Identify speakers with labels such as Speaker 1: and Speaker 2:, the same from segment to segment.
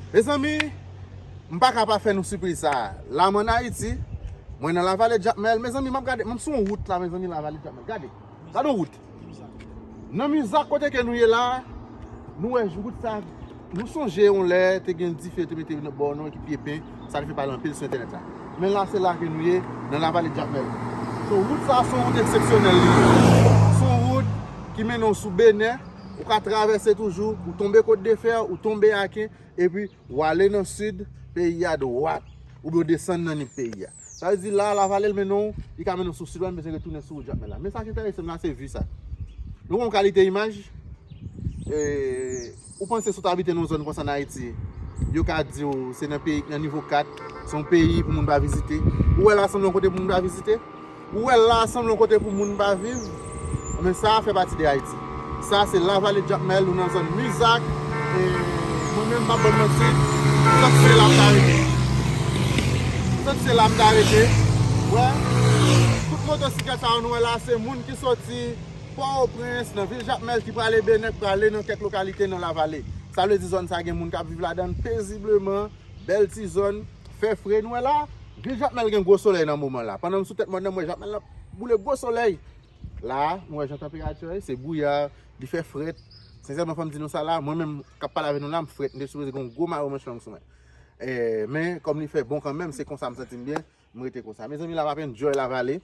Speaker 1: Mezanmi, m paka pa fè nou sipriz sa a. La mwen ann Ayiti, mwen nan Lavale Jakmèl. Mezanmi, m ap gade, m sou yon wout la, mezanmi, Lavale Jakmèl. Gade, gade yon wout. Nan Muzak kote ke nou ye la, nou wè wout sa a. Nou sonje yon lè te gen dife te mete nan bò nou ki pye pen, sa te fè pale anpil sou entènèt la. Men la, se la ke nou ye, nan Lavale Jakmèl. Wout sa a se yon wout eksepsyonèl li ye. Se yon wout ki mennen w sou Benè. Ou ka travèse toujou, ou tonbe Côte de Fer, ou tonbe Aken, epi ou ale nan sid peyi a dwat, oubyen ou desann nan nip peyi a. Sa vle di la, Lavale mennen w, li ka mennen w sou sid la, m bezwen retounen sou wout Jakmèl la. Men sa ki enterese m la, se vi sa. Nou wè yon kalite imaj, e, ou panse si w ta abite nan yon zòn konsa nan Ayiti, yo ka di w se nan peyi ki nan nivo 4, se yon peyi pou moun pa vizite. Ou wè la sanble yon kote pou moun pa vizite? Ou wè la a sanble yon kote pou moun pa viv, men sa a fè pati de Ayiti. Sa a se Lavale Jakmèl, nou nan zòn Mizak, e mwen menm m pap bann manti, petèt se la m ta rete. Petèt se la m ta rete. Ou wè, tout motosiklèt sa yo nou wè la a se moun ki soti Pòtoprens, nan vil Jakmèl ki prale Benèk, prale nan kèk lokalite nan Lavale. Sa vle di zòn sa a gen moun k ap viv ladan l pezibleman, bèl ti zòn. fè fre nou wè la vil jakmèl gen gwo solèy nan moman la pandan m sou tèt mòn nan m wè jakmèl nan boule gwo solèy la nou wè jan tanperati an ye se bwouya li fè frèt sensèman fò m di nou sa la mwen menm k ap pale avè nou la m frèt m te sipoze gen yon gwo mayo manch long sou mwen men kòm li fè bon kanmenm se konsa m santi m byen m rete konsa mezanmi la va p enjoy la vale.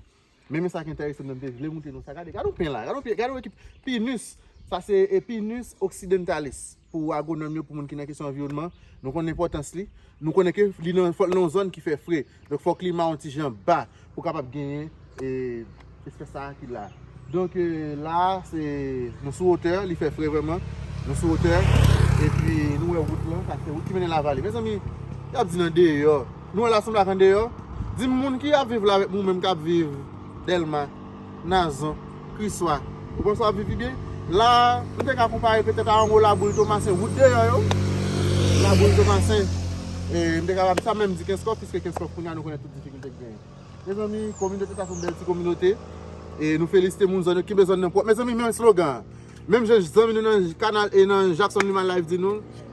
Speaker 1: Men men sak entèresan nan mte vle moute nou sa gade gade yon pen la gade yon pen gade yon ekip pinus sa se pinus occidentalis pou agronòm yo pou moun ki nan kesyon anviwònman nou konnen enpòtans li nou konnen ke li nan fòk nan zòn ki fè fre donk fòk klima yon ti jan ba pou kapab genyen e espès sa ki la donk la se nou sou wotè li fè fre vèman nou sou wotè epi nou wè wout lan sa se wout ki mennen lavale mezanmi yap di nan deyò. Nou wè la sanble ak andeyò. Dim moun ki ap viv la avèk mou menm kap viv Delma, Nazon, Kriswa. Ou panse wap viv pi byen? La nou te ka konpare petèt a anwo laboul Tomasen wout deyò yo. Laboul Tomasen e m te kapab sa menm di Kenskòf piske Kenskòf kounye a nou konnen tout difikilte ki genyen. Mezanmi kominote sa son bèl ti kominote e nou felisite moun zòn yo kenbe zòn nan pwòp. Mezanmi men slogan an. Menm jan zanmi nou nan kanal e nan Jackson Luma live di nou.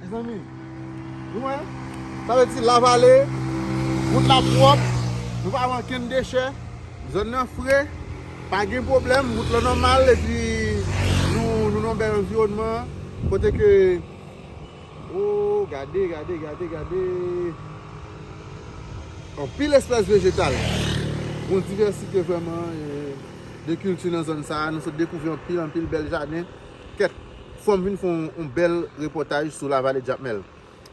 Speaker 1: Mezanmi, nou wè? Sa vle di Lavale, wout la pwòp, nou pa wè ankenn dechè, zòn nan fre, pa gen pwoblèm, wout lan nòmal epi nou nan yon bèl anviwònman kote ke O, gade, gade, gade, gade! Anpil espès vejetal. Yon divèsite vrèman de kilti nan zòn sa a. Nou sot dekouvri anpil, anpil bèl jaden. Kèt, fòm vin fè yon bèl repòtaj sou Lavale Jakmèl.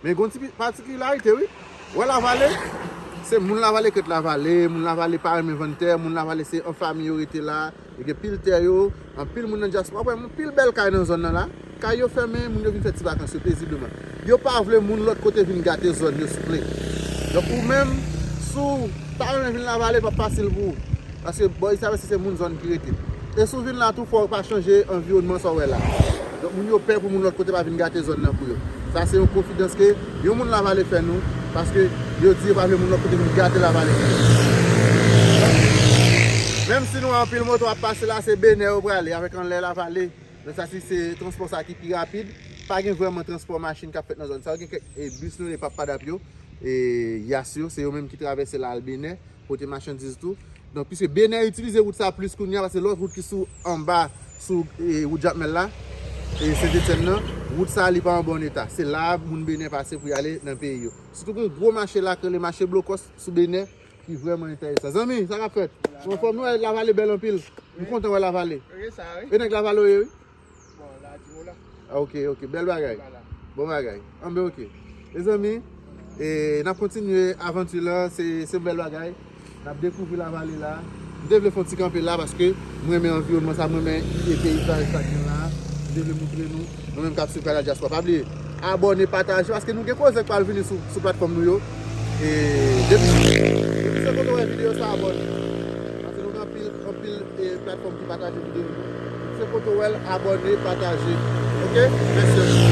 Speaker 1: Men gon ti patikilarite wi. Wè Lavale, se moun Lavale kèt Lavale, moun Lavale pa renmen vann tè, moun Lavale se an fami yo rete la, yo gen pil tè yo, anpil moun nan dyaspora, wap wè anpil bèl kay nan zòn nan la, kay yo fèmen, moun yo vin fè ti vakans yo pezibleman. Yo pa vle moun lòt kote vin gate zòn yo souple. Donk ou menm, si w pa renmen vin Lavale, l pap fasil pou ou. Paske bò Istavèse se moun zòn ki rete. E si w vin la tou fò w pa chanje anviwònman sa w wè la. Donk moun yo pè pou moun lòt kote pa vin gate zòn nan pou yo. Sa se yon konfidans ke yon moun Lavale fè nou, paske yo di yo pa vle moun lòt kote vin gate Lavale pou yo. Menm si nou wè anpil moto ap pase la, se Benè yo prale avèk anlè Lavale. Nan sa si se transpò sa ki pi rapid, pa gen vrèman transpò machin k ap fèt nan zòn sa yo. Gen kèk bis nou rele pappadap yo, yas yo, se yo menm ki travèse al al Benè, pote machandiz tou. Donk, piske Benè itilize wout sa plis kounye a, pase lòt wout ki sou anba, sou wout Jakmèl la, e Sentetyenn nan, wout sa li pa an bon eta. Se la a moun Benè pase pou y ale nan peyi yo. Sitou gen yon gwo mache la k rele mache Blokòs sou Benè, Ki vreman enteresan. Zanmi, sa kap fet? Ou anfom? Nou we la vale bel anpil. M kontan we la vale. E neg la
Speaker 2: vale ou ye wi?
Speaker 1: Bon, la di
Speaker 2: ou la. Ah ok, ok. Bel
Speaker 1: bagay. Bon bagay. Anbe ok. E zanmi, e nap kontinye avanti la. Se bel bagay. Nap dekouvri la vale la. M te vle fon ti kanpe la paske m renmen anviwònman sa, m renmen ide peyizaj sa gen la, m te vle moutre nou, nou menm kap swiv Canal Diaspora pa bliye abòne, pataje paske nou gen koze k pral vini sou platfòm nou yo e depi se kote w wè videyo sa abòne paske nou gen anpil anpil platfòm ki pataje videyo yo depi se kote w wè l abòne pataje ok mèsi anpil.